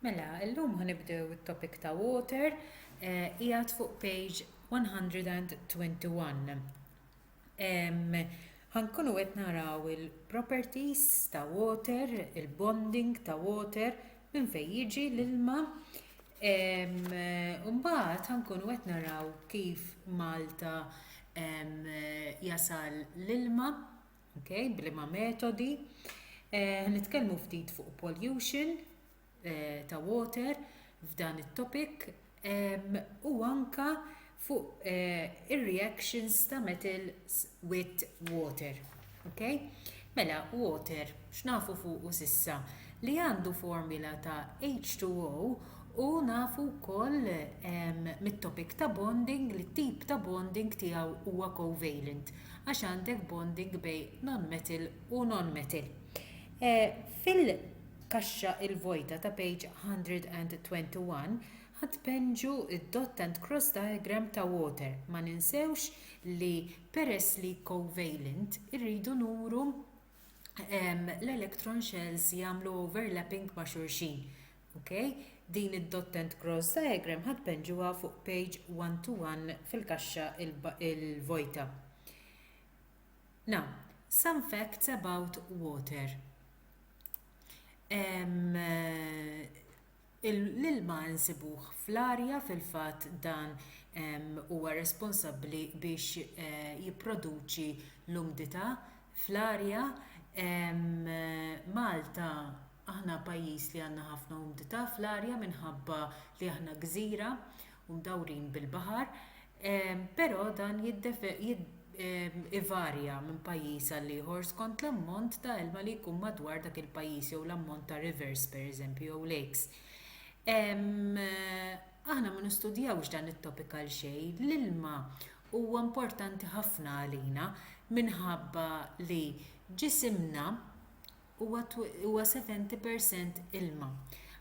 Mela, illum ħanibdew it-topic ta' water, eh, qiegħed fuq page 121. Ħankunu qed naraw il-properties ta' water, il-bonding ta' water, minn fejn jiġi l-ilma. Mbagħad ħankunu qed naraw kif Malta jasal l-ilma Okay, bliema metodi. Eh, nitkellmu ftit fuq pollution eh, ta' water f'dan it-topic u anka fuq eh, ir-reactions ta' metals with water. Okay? Mela, water, x'nafu fuq u sissa, li għandu formula ta' H2O u nafu wkoll mit-topic ta' bonding li tip ta' bonding tiegħu huwa covalent. għax għandek bonding bejn non-metal u non-metal. Fil-kaxxa l-vojta ta' page 121 ħa tpenġu d-dot and cross diagram ta' water. Ma ninsewx li peress li covalent irridu nuru l-electron shells jagħmlu overlapping ma' xulxin. Ok, din id-dot and cross diagram ħa tpenn ġewwa fuq page one to one fil-kaxxa il-vojta. Now, some facts about water. L-ilma nsibuh fl-arja fil-fatt dan huwa responsabbli biex eh, jipproduċi l-umdità fl-arja. Malta Aħna pajjiż li għandna ħafna umdità fl-arja minħabba li aħna gżira u mdawrin bil-baħar, però dan ivarja minn pajjiż għal ieħor skont l-ammont ta' ilma li jkun madwar dak il-pajjiż jew l-ammont ta' rivers, pereżempju, jew lakes. Aħna ma nistudjawx dan it-topic għal xejn. L-ilma huwa importanti ħafna għalina minħabba li ġisimna huwa 70 per cent ilma.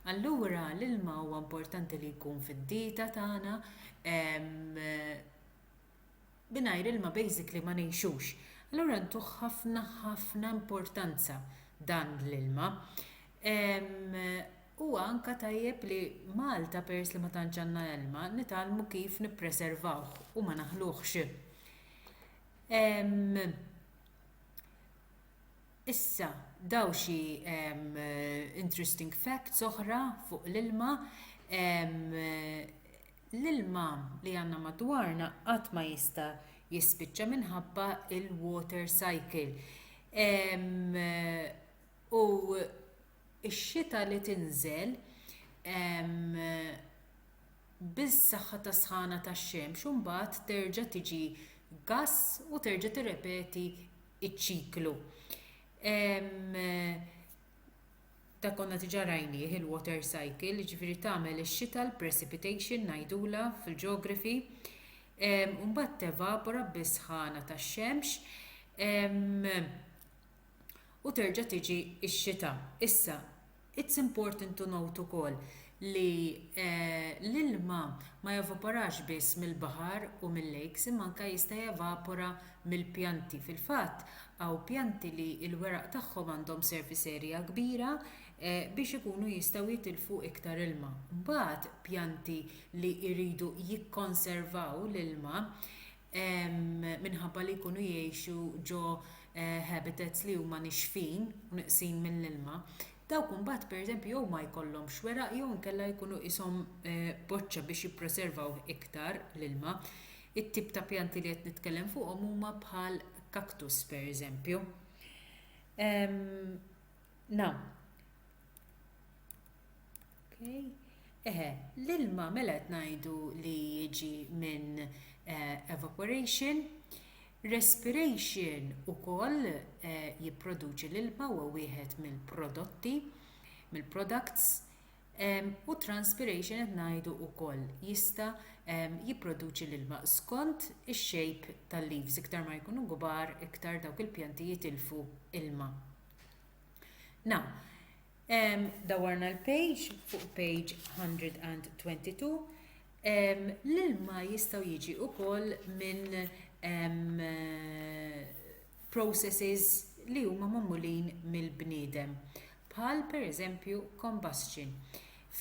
Allura l-ilma huwa importanti li jkun fid-dieta tagħna, mingħajr ilma basically ma ngħixux. Allura ntuh ħafna ħafna importanza dan l-ilma. Huwa anke tajjeb li Malta peress li ma tantx għandna ilma nitgħallmu kif nippreservawh u ma naħluhx. Issa, dawn xi interesting facts oħra fuq l-ilma, l-ilma li għandna madwarna qatt ma jista' jispiċċa minħabba l-water cycle. U x-xita li tinżel bis-saħħa tas-sħana tax-xemx u mbagħad terġa' tiġi gass u terġa' tirrepeti iċ-ċiklu. Dak konna diġà rajnieh il-water cycle, jiġifieri tagħmel ix-xita l-precipitation ngħidulha fil-geography, u mbagħad tevapora bis-sħana tax-xemx u terġa' tiġi x-xita. Issa, It's important to note ukoll li l-ilma ma jevaporax biss mill-baħar u mil-lakes imma anke jista' jevapora mill-pjanti. Fil-fatt, hawn pjanti li l-weraq tagħhom għandhom surface area kbira biex ikunu jistgħu jitilfu iktar ilma. Mbagħad pjanti li jridu jikkonservaw l-ilma minħabba li jkunu jgħixu ġo habitats li huma nixfin u neqsin mill-ilma, dawk imbagħad pereżempju jew ma jkollhomx weraq jew inkella jkunu qishom boċċa biex jippreservaw iktar l-ilma. It-tip ta' pjanti li qed nitkellem fuqhom huma bħal cactus pereżempju. Now, Eħe, l-ilma mela qed ngħidu li jiġi minn evaporation. Respiration ukoll jipproduċi l-ilma, huwa wieħed mill-prodotti, mill-products. U transpiration qed ngħidu ukoll jista' jipproduċi l-ilma skont ix-shape tal-leaves, iktar ma jkunu kbar iktar dawk il-pjanti jitilfu ilma. Now, Dawwarna l-page fuq page 122. L-ilma jistgħu jiġi wkoll minn processes li huma magħmulin mill-bniedem bħal pereżempju combustion.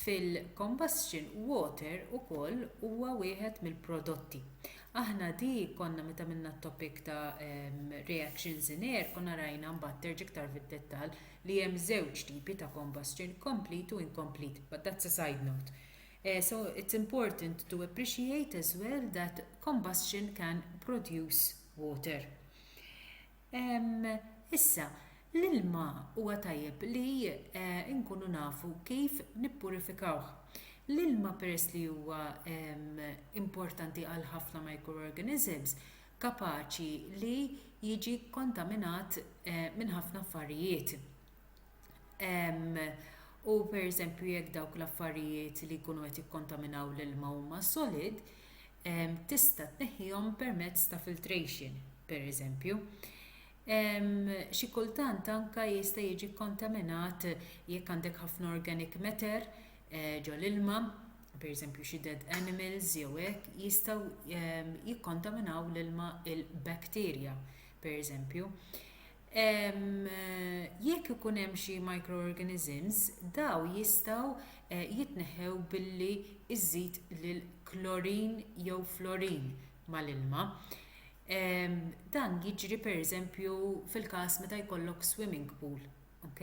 Fil-combustion water ukoll huwa wieħed mill-prodotti. Aħna di konna meta għamilna t-topic ta' reactions in air konna rajna mbagħad terġa' iktar fid-dettall li hemm żewġ tipi ta' combustion, complete u incomplete, but that's a side note. So it's important to appreciate as well that combustion can produce water. Issa, l-ilma huwa tajjeb li nkunu nafu kif nippurifikawh. L-ilma peress li huwa importanti għal ħafna microorganisms, kapaċi li jiġi kkontaminat minn ħafna affarijiet u pereżempju jekk dawk l-affarijiet li jkunu qed jikkontaminaw l-ilma huma solid tista' tneħħihom permezz ta' filtration pereżempju xi kultant anke jista' jiġi kkontaminat jekk għandek ħafna organic matter ġol-ilma. pereżempju xi dead animals jew hekk jistgħu jikkontaminaw l-ilma il-bacteria pereżempju jekk ikun hemm xi microorganisms dawn jistgħu jitneħħew billi żżid l-klorin jew florin mal-ilma dan jiġri pereżempju fil-każ meta jkollok swimming pool ok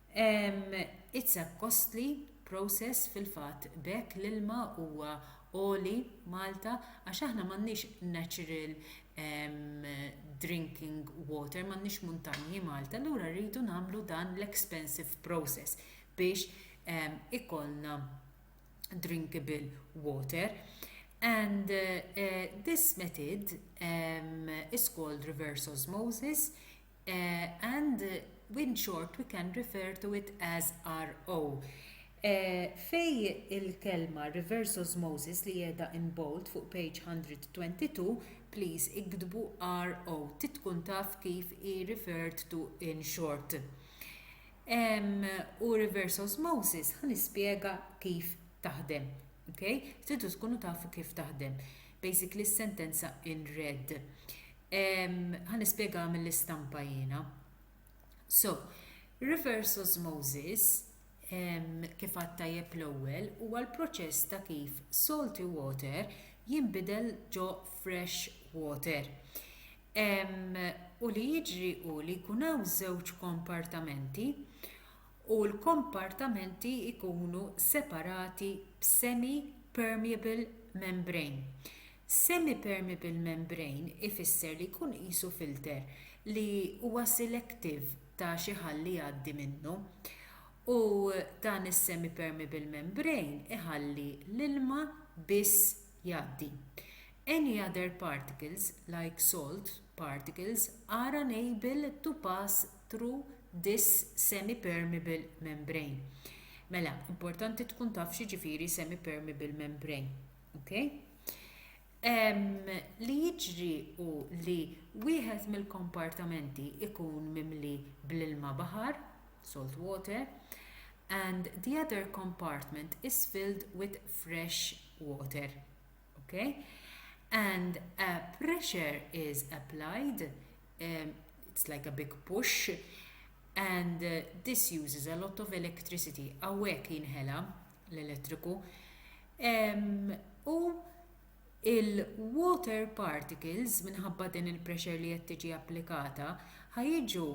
It's a costly process fil-fatt b'hekk l-ilma huwa għoli Malta għax aħna m'għandniex natural drinking water m'għandniex muntanji Malta allura rridu nagħmlu dan l-expensive process biex ikollna drinkable water and this method is called reverse osmosis and in short we can refer to it as RO. Fejn il-kelma reverse osmosis li qiegħda in bold fuq page 122, please iktbu RO, trid tkun taf kif hi referred to in short. U reverse osmosis ħa nispjega kif taħdem. Okay? Tridu tkunu tafu kif taħdem. Basically s-sentenza in red. Ħa nispjegaha mill-istampa jiena. So, reverse osmosis, kif għadt tajjeb l-ewwel, huwa l-proċess ta' kif salty water jinbidel ġo fresh water. U li jiġri hu li jkun hawn żewġ kompartamenti u l-kompartamenti jkunu separati b'semi-permeable membrane. Semi-permeable membrane ifisser li jkun qisu filter li huwa selective ta' xi ħall li jgħaddi minnu. U dan is-semi-permeable membrane iħalli l-ilma biss jgħaddi. Any other particles, like salt particles, are unable to pass through this semi-permeable membrane. Mela, importanti tkun taf x'jiġifieri semi-permeable membrane. Okay? Um, li jiġri u li wieħed mill-kompartamenti ikun mimli bl-ilma baħar, salt water, and the other compartment is filled with fresh water. Okay? And a pressure is applied, um, it's like a big push, and uh, this uses a lot of electricity. Awek jinħela l-elettriku, u l-water particles, minħabba din il-pressure li qed tiġi applikata, ħa jiġu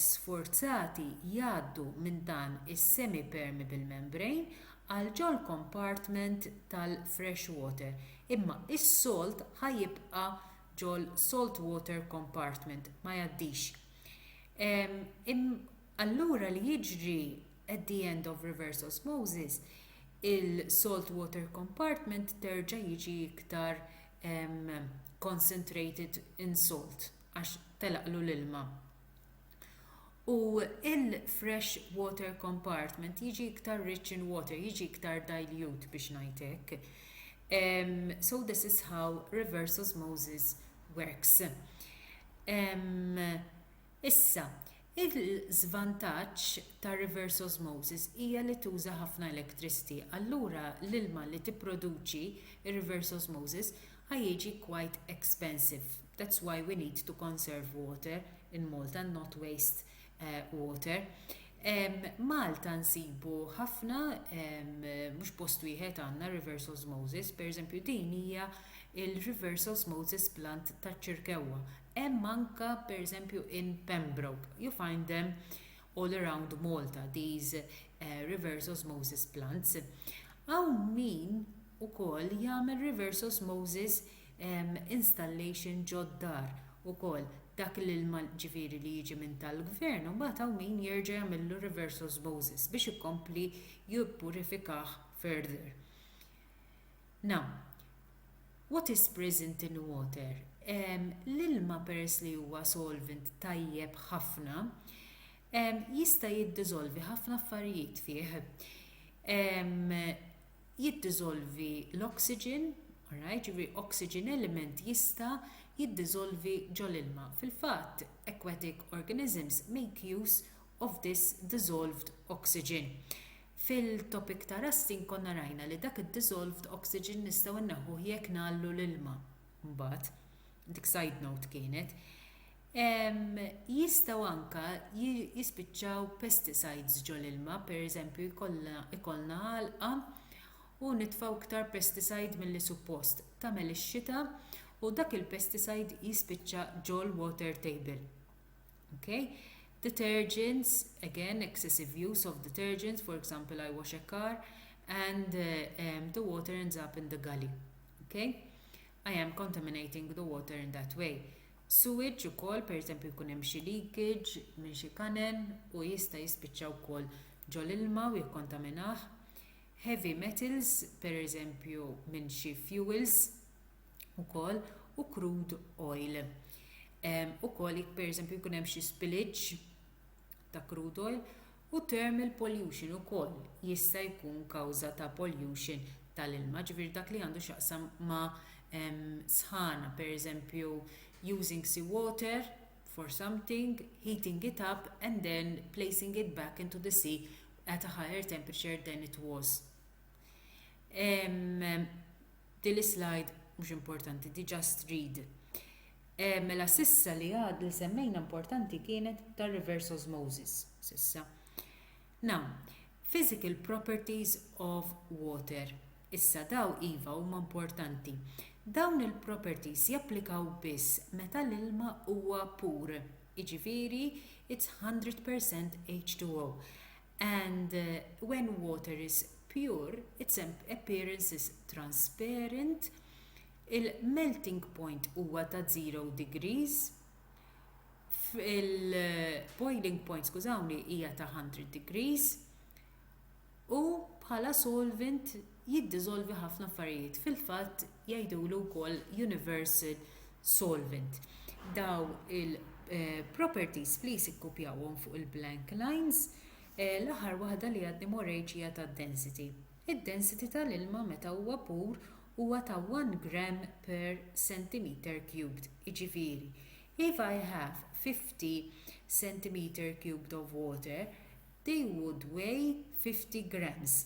sfurzati jgħaddu minn dan is-semi-permeable membrane għal ġol-compartment tal-fresh water, imma s-salt ħa jibqa' ġol-salt water compartment, ma jgħaddix. Allura li jiġri At the end of reverse osmosis, il-salt water compartment terġa' jiġi iktar concentrated in salt għax telaqlu l-ilma. U il-fresh water compartment jiġi iktar rich in water, jiġi iktar dilute biex ngħid hekk. So this is how reverse osmosis works. Issa, il-żvantaġġ ta' reverse osmosis hija li tuża ħafna electricity, allura l-ilma li tipproduċi r-reverse osmosis ha jiġi quite expensive, that's why we need to conserve water in Malta and not waste water. Malta nsibu ħafna, mhux post wieħed għandna reverse osmosis, pereżempju din hija l-reverse osmosis plant taċ-Ċirkewwa, Hemm anke, pereżempju, in Pembroke you find them all around Malta, these reverse osmosis plants. Hawn min ukoll jagħmel reverse osmosis installation ġod-dar ukoll, dak l-ilma ġifieri li jiġi minn tal-Gvern imbagħad hawn min jerġa' jagħmillu reverse osmosis biex ikompli jippurifikah further. Now, what is present in water? L-ilma peress li huwa solvent tajjeb ħafna, jista' jiddiżolvi ħafna affarijiet fih. Jiddiżolvi l-oxygen, alright, ġifieri oxygen element jista' jiddiżolvi ġol-ilma. Fil-fatt, aquatic organisms make use of this dissolved oxygen. Fil-topic ta' rusting konna rajna li dak id-dissolved oxygen nistgħu nneħħuh jekk ngħalllu l-ilma. Mbagħad, dik side note kienet, ehm, jistgħu anke jispiċċaw pesticides ġol-ilma, per eżempju jkollna ikollna għalqa u nitfgħu iktar pesticide milli suppost, tagħmel ix-xita u dak il-pesticide jispiċċa ġol-water table. Okay? Detergents, again, excessive use of detergents, for example, I wash a car, and uh, um, the water ends up in the gully. Okay? I am contaminating the water in that way. Sewage ukoll, per eżempju, jkun hemm xi leakage minn xi kanen u jista' jispiċċa wkoll ġol ilma u jikkontaminah. Heavy metals, per eżempju, minn xi fuels ukoll u crude oil. Ukoll jekk pereżempju jkun hemm xi spillage ta' crude oil u thermal pollution ukoll jista' jkun kawża ta' pollution tal-ilma, ġifieri dak li għandu x'jaqsam ma' sħana, pereżempju using sea water for something, heating it up and then placing it back into the sea at a higher temperature than it was. Din l-slide mhux importanti, diġà strid. Mela s'issa li għad li semmejna importanti kienet tar-reverse osmosis s'issa. Now, physical properties of water. Issa daw iva huma importanti. Dawn il-properties japplikaw biss meta l-ilma huwa pur, jiġifieri it's 100% H2O. And when water is pure, its appearance is transparent, il-melting point huwa ta' 0 degrees, il-boiling point, skużawni, hija ta' 100 degrees, u bħala solvent jiddiżolvi ħafna affarijiet. Fil-fatt, jgħidulu wkoll universal solvent. Dawn il-properties please ikkupjawhom fuq il-blank lines. L-aħħar waħda li għadni m'orejtx hija tad-density. Id-density tal-ilma meta huwa pur huwa ta' 1 gram per centimeter cubed, jiġifieri if I have 50 centimeter cubed of water, they would weigh 50 grams.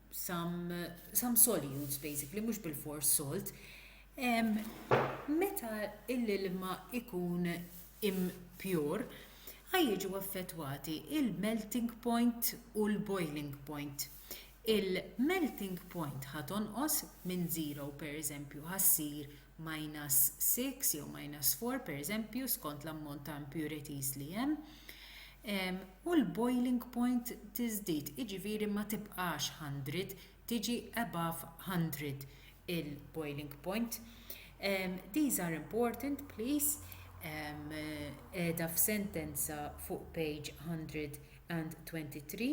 some some solutes basically mhux bil-fors salt meta l-ilma ikun impjur ħajjiġu affettwati il-melting point u l-boiling point il-melting point ħa tonqos minn żero pereżempju ħa ssir minus six jew minus four pereżempju skont l-ammont ta' impurities li hemm, u l-boiling point tiżdied, jiġifieri ma tibqax hundred, tiġi above hundred il-boiling point. These are important please qiegħda f'sentenza fuq page 123.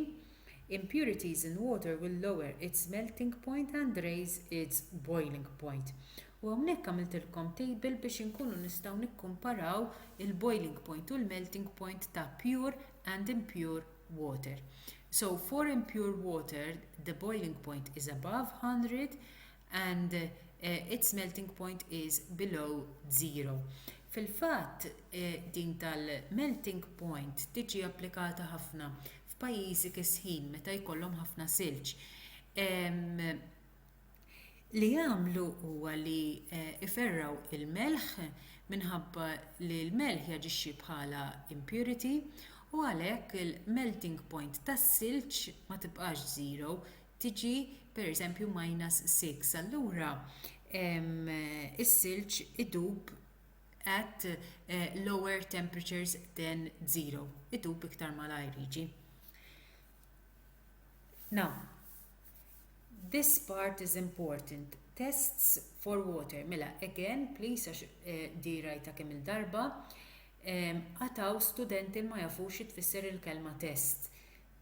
Impurities in water will lower its melting point and raise its boiling point. U hawnhekk għamiltilkom table biex inkunu nistgħu nikkumparaw il-boiling point u l-melting point ta' pure and impure water. So for impure water the boiling point is above 100 and uh, its melting point is below zero. Fil-fatt eh, din tal-melting point tiġi applikata ħafna f'pajjiżi kisħin meta jkollhom ħafna silġ li jagħmlu huwa li jferrgħu l-melħ minħabba li l-melħ jaġixxi bħala impurity u għalhekk il-melting point tas-silġ ma tibqax 0 tiġi pereżempju +6 allura is-silġ idub at lower temperatures than zero. Idub iktar malajr jiġi. Now, this part is important. Tests for water. Mela, again, please, għax eh, di rajta kemm il-darba, għataw studenti ma jafux tfisser il-kelma test.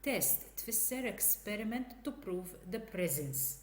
Test tfisser experiment to prove the presence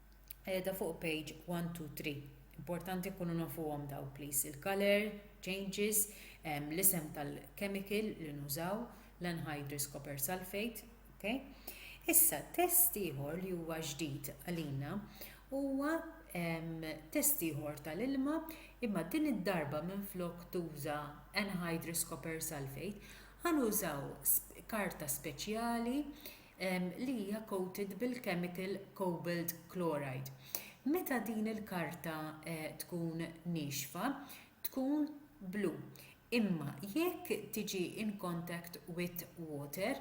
qiegħda fuq page 1 2 3 importanti nkunu nafuhom dawn please il-colour changes l-isem tal-chemical li nużaw l-anhydrous copper sulphate ok issa test ieħor li huwa ġdid għalina huwa test ieħor tal-ilma imma din id-darba minflok tuża anhydrous copper sulphate ħa nużaw karta speċjali li hija coated bil-kemikal cobalt chloride. Meta din il-karta tkun niexfa tkun blu imma jekk tiġi in contact with water,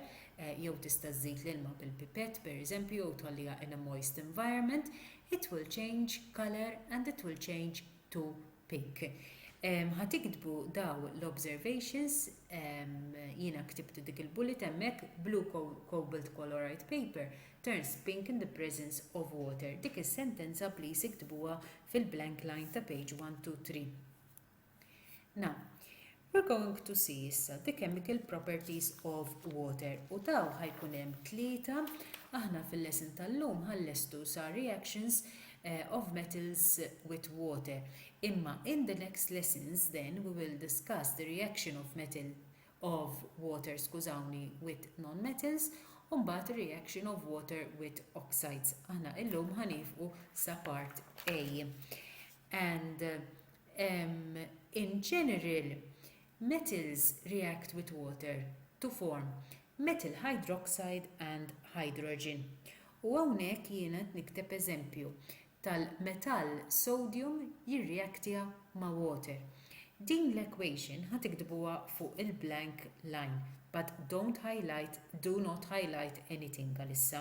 jew tista' żżid l-ilma bil-pipett pereżempju jew tħalliha in a moist environment, it will change colour and it will change to Pink. Ħa tiktbu daw l-observations, jiena ktibt dik il-bullet hemmhekk, blue cobalt colouride paper turns pink in the presence of water. Dik is-sentenza please iktbuha fil-blank line ta' page one two three. Now, We're going to see issa the chemical properties of water u taw ħa jkun hemm tlieta. Aħna fil-lesson tal-lum ħa nlestu sa reactions eh, of metals with water. Imma in the next lessons then we will discuss the reaction of metal of water, skużawni, with non-metals u mbagħad reaction of water with oxides. Aħna illum ħanifqu sa part A. and um in general metals react with water to form metal hydroxide and hydrogen u hawnhekk jiena qed nikteb eżempju tal-metall sodium jirreactja ma' water din l-equation ħa tiktbuha fuq il-blank line but don't highlight do not highlight anything għalissa.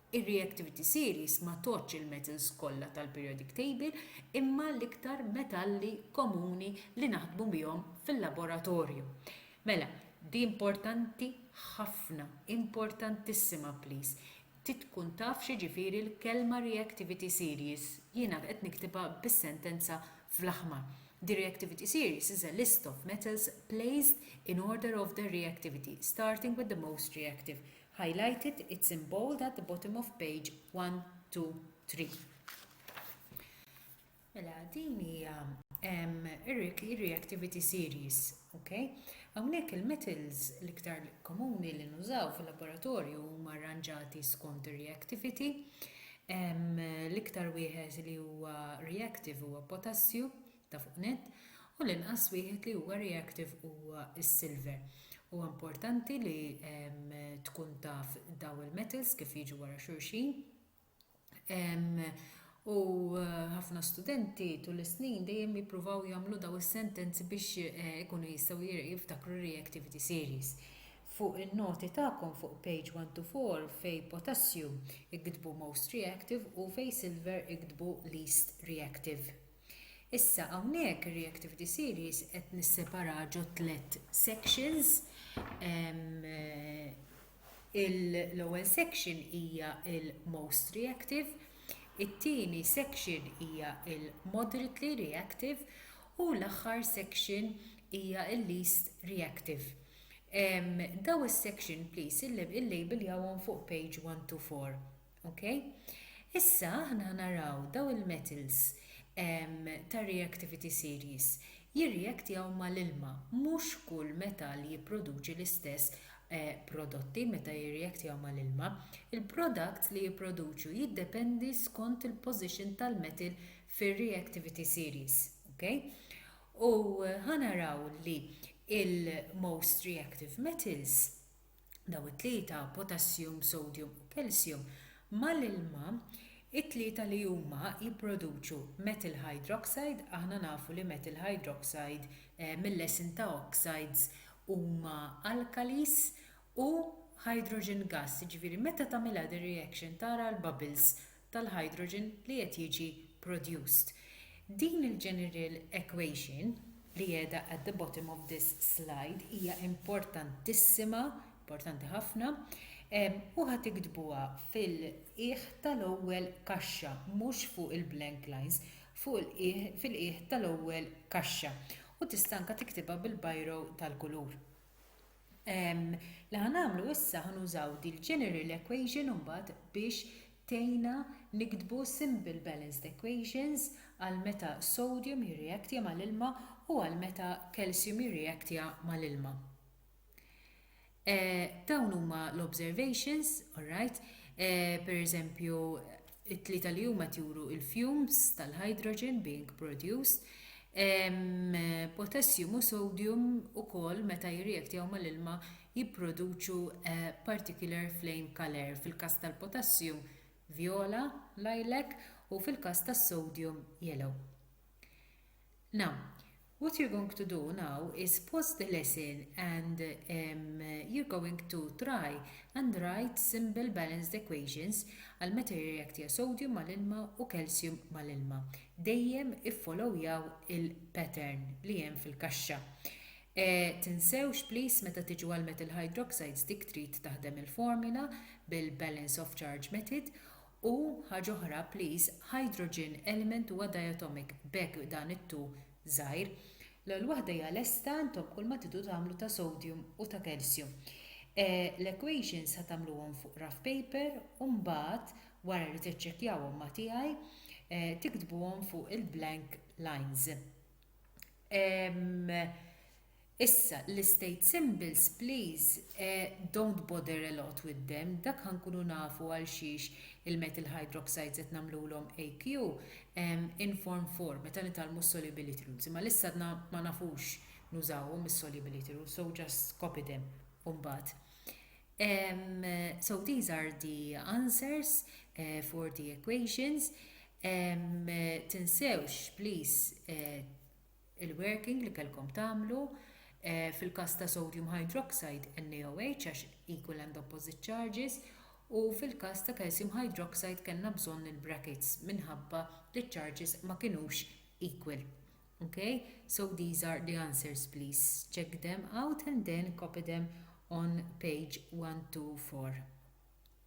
Ir-reactivity series ma tgħoddx il-metals kollha tal-periodic table imma l-iktar metalli komuni li naħdmu bihom fil-laboratorju. Mela, di importanti ħafna, importantissima please, trid tkun taf x'jiġifieri l-kelma reactivity series, jiena qed niktibha bis-sentenza fl-aħmar. The reactivity series is a list of metals placed in order of their reactivity, starting with the most reactive. highlighted, it's in bold at the bottom of page 1, 2, 3. Mela, din hija ir-reactivity series, ok? Hawnhekk il-metals l-iktar komuni li nużaw fil-laboratorju huma arranġati skont ir-reactivity. L-iktar wieħed li huwa reactive huwa potassju, ta' fuq nett, u l-inqas wieħed li huwa reactive huwa s-silver. Huwa importanti li tkun taf dawn il-metals kif jiġu wara xulxin. U ħafna studenti tul is-snin dejjem jippruvaw jagħmlu dawn is-sentenzi biex ikunu jistgħu jiftakru r-reactivity series. Fuq in-noti tagħkom fuq page 1 to 4 fejn potassium iktbu most reactive u fejn silver iktbu least reactive. Issa hawnhekk ir-reactive diseries qed nisseparaha ġo tliet sections. L-ewwel section hija l-most reactive, it-tieni section hija l-moderately reactive u l-aħħar section hija l-least reactive. Dawn is-section please illejbiljawhom fuq page one to four. Ok. Issa aħna ħanaraw daw il-metals tar-reactivity series jirreactjaw mal-ilma. Mhux kull metall jipproduċi l-istess prodotti meta jirreactjaw mal-ilma. Il-products li jipproduċu jiddependi skont il-position tal-metal fir-reactivity series. Ok. U ħanaraw li il-most reactive metals, dawn it-tlieta, potassium, sodium u calcium, mal-ilma, it-tlieta li huma jipproduċu methyl hydroxide, aħna nafu li methyl hydroxide mil-lesin ta' oxides huma alkalis, u hydrogen gas, jiġifieri meta tagħmilha din reaction tara l-bubbles tal-hydrogen li qed jiġi produced. Din il-general equation li qiegħda at the bottom of this slide hija importantissima, importanti ħafna, u ħa tiktbuha fil-qiegħ tal-ewwel kaxxa, mhux fuq il-blank lines, fuq il-qiegħ, fil-qiegħ tal-ewwel kaxxa. U tista' anke tiktibha bil-biro tal-kulur. Li ħa nagħmlu issa ħa nużaw dil-general equation imbagħad biex tgħinna niktbu simple balanced equations għal meta sodium jirreaktja mal-ilma u għal meta calcium jirreaktja mal-ilma. Dawn huma l-observations, alright, pereżempju it-tlieta li huma qed juru l-fumes tal-hydrogen being produced, potessjum u sodjum ukoll meta jirrijektjaw mal-ilma jipproduċu a particular flame colour, fil-każ tal-potessjum vjola, lilac, u fil-każ tas-sodjum yellow. Now, what you're going to do now is pause the lesson and um, you're going to try and write simple balanced equations għal meta jirreaktija sodium mal-ilma u calcium mal-ilma. Dejjem iffollowjaw il-pattern li hemm fil-kaxxa. Eh, tinsewx please meta tiġu għal metal hydroxides dik trid taħdem il-formula bil-balance of charge method U, ħaġa oħra, please, hydrogen element huwa diatomic, b'hekk dan it-two żgħir, l-ewwel waħda hija lesta, intom kulma tidu tagħmlu ta' sodium u ta' calcium. L-equations ħa tagħmluhom fuq rough paper u mbagħad, wara li tiċċekkjawhom ma' tiegħi, tiktbuhom fuq il-blank lines. Issa l-istate symbols please don't bother a lot with them dak ħa nkunu nafu għalxiex il-metal hydroxides qed nagħmlulhom AQ in form 4 meta nitgħallmu s-solubility rules imma għalissa għadna ma nafux nużawhom is-solubility rules so just copy them u mbagħad so these are the answers for the equations tinsewx please il-working li kellkom tagħmlu fil-każ ta' sodium hydroxide, NaOH, għax qiegħku land opposite charges, u fil-każ ta' calcium hydroxide kellna bżonn il-brackets minħabba li ċ-charges ma kinux equal. Ok? So these are the answers please check them out and then copy them on page 124.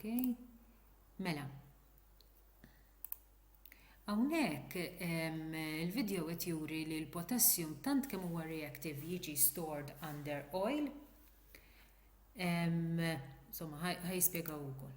Okay. Mela. Hawnhekk il-video qed juri li l-potassium tant kemm huwa reactive jiġi stored under oil. Insomma, ħaj spjegaw ukoll.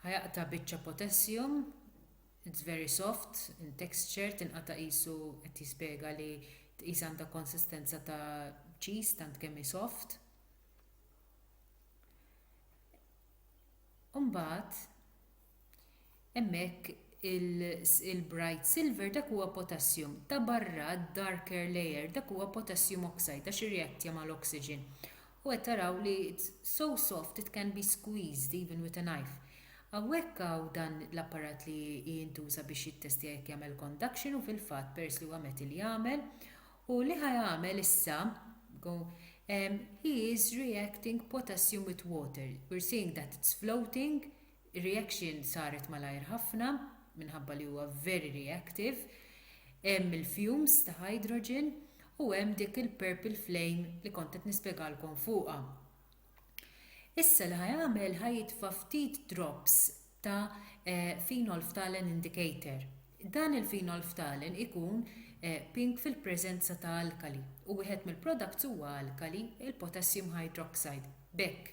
Ħa jaqta' biċċa potessium, it's very soft in texture tinqata' qisu qed jispjega li tqis għandha konsistenza ta' cheese tant kemm hi soft. U mbagħad hemmhekk il-bright silver dak huwa potassium, ta' barra d-darker layer dak huwa potassium oxide għax irreattja mal-oxygen. U qed taraw li it's so soft it can be squeezed even with a knife. Hawnhekk hawn dan l-apparat li jintuża biex jittestja jekk jagħmel conduction u fil-fatt peress li huwa metal jagħmel. U li ħa jagħmel issa, go, ehm, he is reacting potassium with water, we're seeing that it's floating, Ir-reaction saret malajr ħafna minħabba li huwa very reactive. Hemm il-fumes ta' hydrogen u hemm dik il-purple flame li kont qed nispjegalkom fuqha. Issa li ħa jagħmel ħa jitfa' ftit drops ta' phenolphthalein indicator. Dan il-phenolphthalein ikun pink fil-preżenza ta' alkali u wieħed mill-products huwa alkali, il-potassium hydroxide. B'hekk,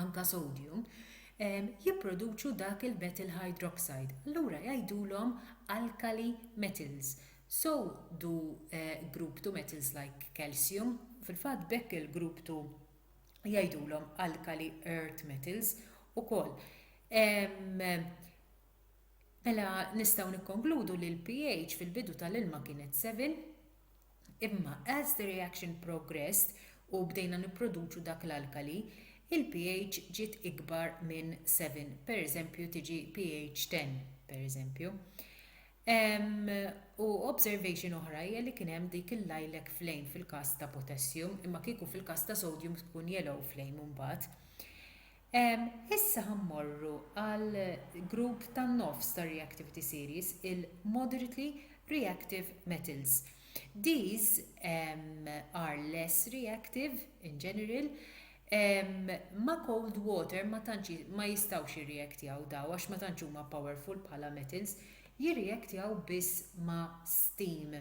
anke sodium, jipproduċu dak il-metal hydroxide, allura jgħidulhom alkali metals, so do group two metals like calcium, fil-fatt b'hekk il-grupp two jgħidulhom alkali earth metals ukoll. Mela nistgħu nikkonkludu li l-pH fil-bidu tal-ilma kienet 7, Imma as the reaction progressed u bdejna nipproduċu dak l-alkali, il-pH ġiet ikbar minn 7, pereżempju tiġi pH 10, pereżempju. U observation oħra hija li kien hemm dik il-lilac flame fil-każ ta' potassium, imma kieku fil-każ ta' sodium tkun yellow flame imbagħad. Issa ħa mmorru għal grupp tan-nofs tar-reactivity series, il-moderately reactive metals. These are less reactive, in general, ma' cold water ma tantx ma jistgħux jirreactjaw dawn għax ma tantx huma powerful bħala metals, jirreactjaw biss ma' steam.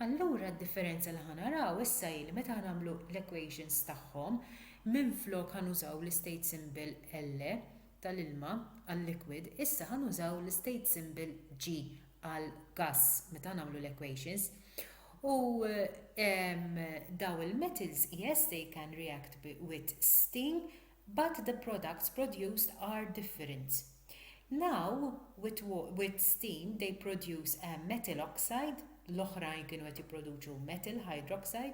Allura d-differenza li ħa naraw issa hi li meta ħa nagħmlu l-equations tagħhom, Minflok ħa nużaw l-istate symbol LE tal-ilma għal-liquid, issa ħa nużaw l-istate symbol G għall-gass meta nagħmlu l-equations. U ehm daw il-metals yes they can react with steam but the products produced are different. Now with with steam they produce a metal oxide, l-oħrajn kienu qed jipproduċu metal hydroxide,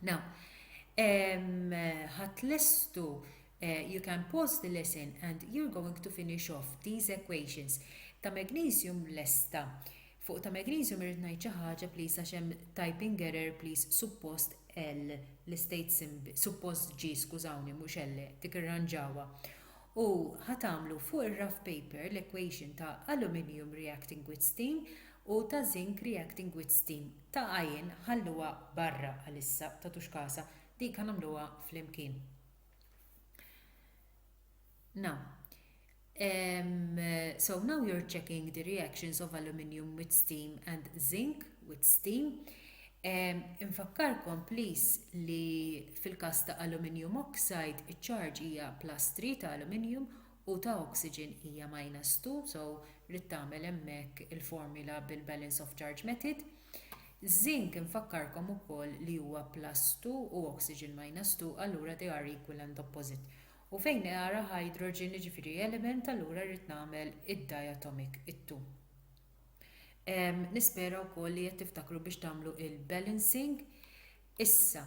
Now, um, ħat lestu uh, you can pause the lesson and you're going to finish off these equations. Ta' magnesium lesta. Fuq ta' magnesium irrid ngħid xi ħaġa please għax hemm typing error please suppost L l-state symbol suppost G skużawni mhux L dik irranġawha. U ħatamlu fuq ir-rough paper l-equation ta' aluminium reacting with steam u ta' zinc reacting with steam Ta' għajn, ħalluha barra għalissa, tagħtux kasha, dik ħa nagħmluha flimkien. Now, um, so now you're checking the reactions of aluminium with steam and zinc with steam. Um, infakkarkom please li fil-kas ta' aluminium oxide iċ-ċarġ hija plus 3 ta' aluminium u ta' oxygen hija minus 2, so ridt tagħmel hemmhekk il-formula bil-balance of charge method. Żink infakkarkom ukoll li huwa plus 2 u oxygen minus 2 allura they are equal and opposite. U fejn they are a hydrogen jiġifieri element allura rrid nagħmel id-diatomic it-2. Nispera wkoll li qed tiftakru biex tagħmlu il-balancing. Issa,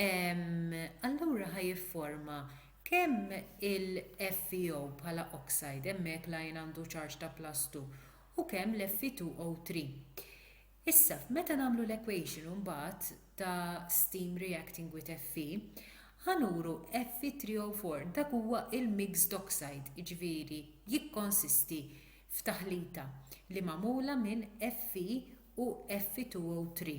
allura ħa jifforma kemm il-FeO bħala oxide, hemmhekk l-ion għandu charge ta' +2, u kemm l-Fe2O3. Issa, meta nagħmlu l-equation imbagħad ta' steam reacting with Fe, ħa nuru Fe3O4, dak huwa l-mixed oxide, jiġifieri jikkonsisti f'taħlita li magħmula minn Fe u Fe2O3.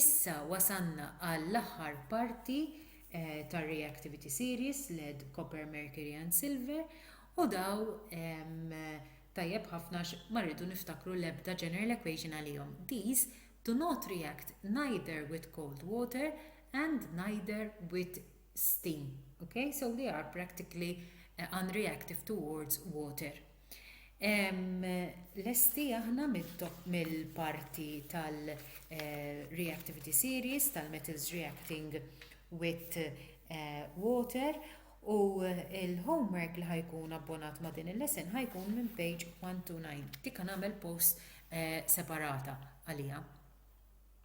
Issa wasalna għall-aħħar parti tar-Reactivity Series led Copper, Mercury and Silver u daw tajjeb ħafna għax ma rridu niftakru l-ebda general equation għalihom. These do not react neither with cold water and neither with steam. Okay? So they are practically unreactive towards water. Lesti aħna mill-parti tal-reactivity series tal-metals reacting with water u l-homework li ħa jkun abbonat ma' din il-lesson ħa jkun minn page 129. Dik ħa nagħmel post separata għaliha.